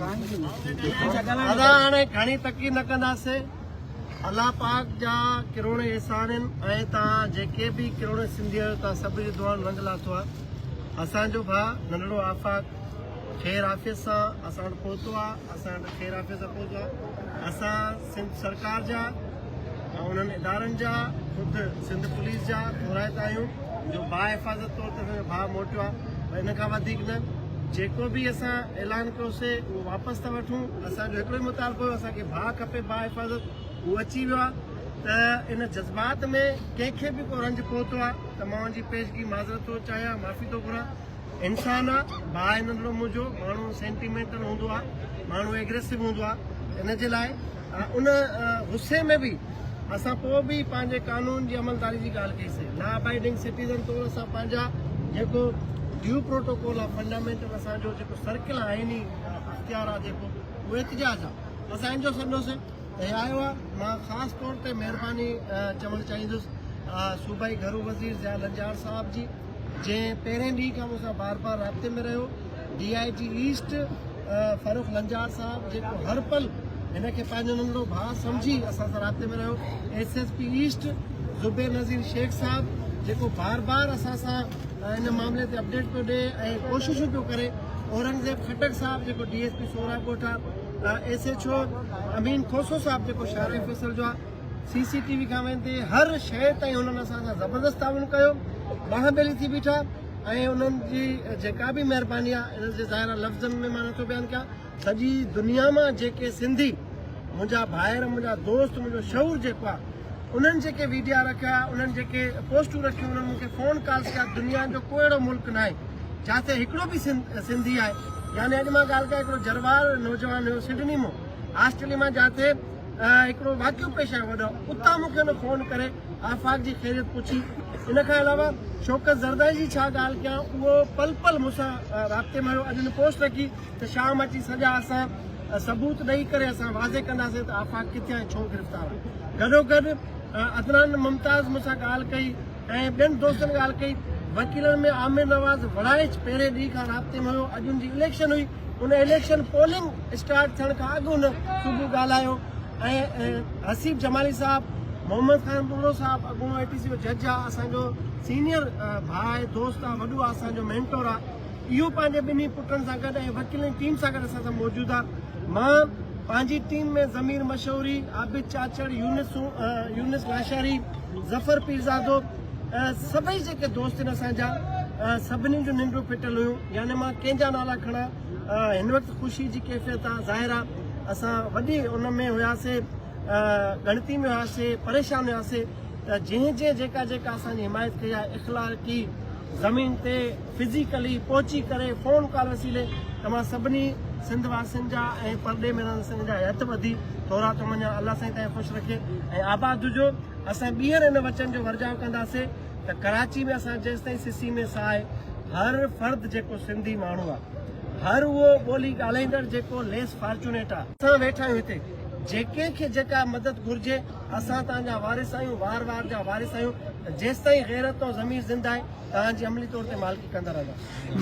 ادا هاڻي گهڻي تقي نه ڪنداسي الله پاڪ جا ڪروڙين احسان آهن ۽ توهان جيڪي به ڪروڙين سنڌي آهيو توهان سڀ جي دعائن رنگ لاتو آهي اسان جو ڀاء ننڍڙو آفاق خير عافيت سان اسان وٽ پهتو آهي اسان وٽ خير عافيت سان پهتو آهي اسان سنڌ سرڪار جا انهن ادارن جا خود سنڌ پوليس جا مرايت آهيون جو با حفاظت طور تي اسان جو ڀاء موٽيو آهي ان کان وڌيڪ نه جيڪو به اسان اعلان ڪيوسي اهو واپس ٿا وٺون اسان جو هڪڙو ئي مطالبو هو اسان کي ڀاء کپي با حفاظت اهو اچي ويو آهي ته ان جذبات ۾ ڪنهن کي به ڪو رنج پهتو آهي ته مان ان جي پيشگي معذرت ٿو چاهيان معافي ٿو گهران انسان آ ڀاء ان ڏنو منهنجو ماڻهو سينٽيمينٽل هوندو آ ماڻهو ايگريسو هوندو آ ان جي لاء ان غصي ۾ به اسان پوء به پنهنجي قانون جي عملداري جي ڳالهه ڪئي سي لا ابائيڊنگ سٽيزن طور اسان پنهنجا جيڪو ڊيو پروٽوڪول آ فنڊامينٽل اسان جو جيڪو سرڪل آئيني اختيار آ جيڪو اهو احتجاج آ اسان ان جو سڏنو سي هي آيو آ مان خاص طور تي مهرباني چوڻ چاهيندس صوبائي گهرو وزير ضياء لنجار صاحب جي جنهن پهرين ڏينهن کان مون سان بار بار رابطي ۾ رهيو، D I G east Farrukh Lanjar صاحب جيڪو هر پل هن کي پنهنجو ننڍڙو ڀاء سمجهي اسان سان رابطي ۾ رهيو، S S P east Zubair Nazir Shaikh صاحب جيڪو بار بار اسان سان ان معاملي تي اپڊيٽ پيو ڏي ۽ ڪوششون پيو ڪري، اورنگزيب خٽڪ صاحب جيڪو ڊي ايس پي سورا ڳوٺا، S H O Amin Khoso صاحب جيڪو شارع فيصل جو آ. سي سي ٽي وي کان ويندي هر شيء تائين هنن اسان سان زبردست تعاون ڪيو ٻانهن ٻيلي ٿي بيٺا ۽ انهن جي جيڪا به مهرباني آهي انهن جي ظاهرا لفظن ۾ مان نٿو بيان ڪيان سڄي دنيا مان جيڪي سنڌي منهنجا ڀائر منهنجا دوست منهنجو شعور جيڪو آهي انهن جيڪي ويڊيا رکيا انهن جيڪي پوسٽون رکيون انهن مونکي فون ڪالز ڪيا دنيا جو ڪو اهڙو ملڪ نه آهي جاتي هڪڙو به سنڌي آهي يعني اڄ مان ڳالهه ڪيان هڪڙو جروار نوجوان هيو سڊني مون آسٽريليا مان جاتي هڪڙو واقعو پيش آيو وڏا اتان مون کي هن فون ڪري آفاق جي خيريت پڇي ان کان علاوه شوڪت زردائي جي ڇا ڳالهه ڪيان اهو پل پل مون سان رابطي ۾ رهيو اڄ هن پوسٽ رکي ته شام اچي سڄا اسان ثبوت ڏئي ڪري اسان واضح ڪنداسين ته آفاق ڪٿي ۽ ڇو گرفتار آهي گڏوگڏ عدنان ممتاز مون سان ڳالهه ڪئي ۽ ٻين دوستن ڳالهه ڪئي. وڪيلن ۾ عامر نواز وڙائچ پهرين ڏينهن کان رابطي ۾ هيو. اڄ هن جي اليڪشن هئي. هن اليڪشن پولنگ اسٽارٽ ٿيڻ کان اڳ هن صبح ڳالهايو ۽ حسيب جمالي صاحب، محمد خان ٻگهڙو صاحب اڳوڻو اي ٽي سي جو جج آ، اسان جو سينيئر ڀاء آهي، دوست آ، وڏو آ، اسان جو مينٽور آ. اهو پنهنجي ٻنهي پٽن سان گڏ ۽ وڪيلن ٽيم سان گڏ اسان سان موجود آ مان پنهنجي ٽيم ۾ ضمير مشهوري، عابد چاچڙ، يونس يونس لاشاري، ظفر پيرزادو سڀئي جيڪي دوست آهن اسان جا سڀني جون ننڊون ڦٽل هيون يعني مان ڪنهن جا نالا کڻا هن وقت خوشي جي ڪيفيت آ ظاهر آ اسان وڏي ان ۾ هياسي ڳڻتي ۾ هياسي پريشان هياسي ته جنهن جنهن جيڪا جيڪا اسان جي حمايت ڪئي آ اخلاقي زمين تي فزيڪلي پهچي ڪري فون ڪال وسيلي توهان سڀني سنڌ واسين جا ۽ پرڏيهه ۾ رهندڙ سنڌين جا هٿ ٻڌي ٿورا ٿو مڃان الله سائين توهان کي خوش رکي ۽ آباد هجو اسان ٻيهر ان وچن جو ورجاء ڪنداسين ته ڪراچي ۾ اسان جيستائين سسي ۾ ساهي هر فرد جيڪو سنڌي ماڻهو آ هر اهو ٻولي ڳالهائيندڙ جيڪو ليس فارچونيٽ آ. اسان ويٺا آهيون هتي جيڪي کي جيڪا مدد گهرجي. اسان توهان جا وارث آهيون، وار وار جا وارث آهيون ته جيستائين غيرت ۽ ضمير زنده آهي، توهان جي عملي طور تي مالڪي ڪندا رهنداسين.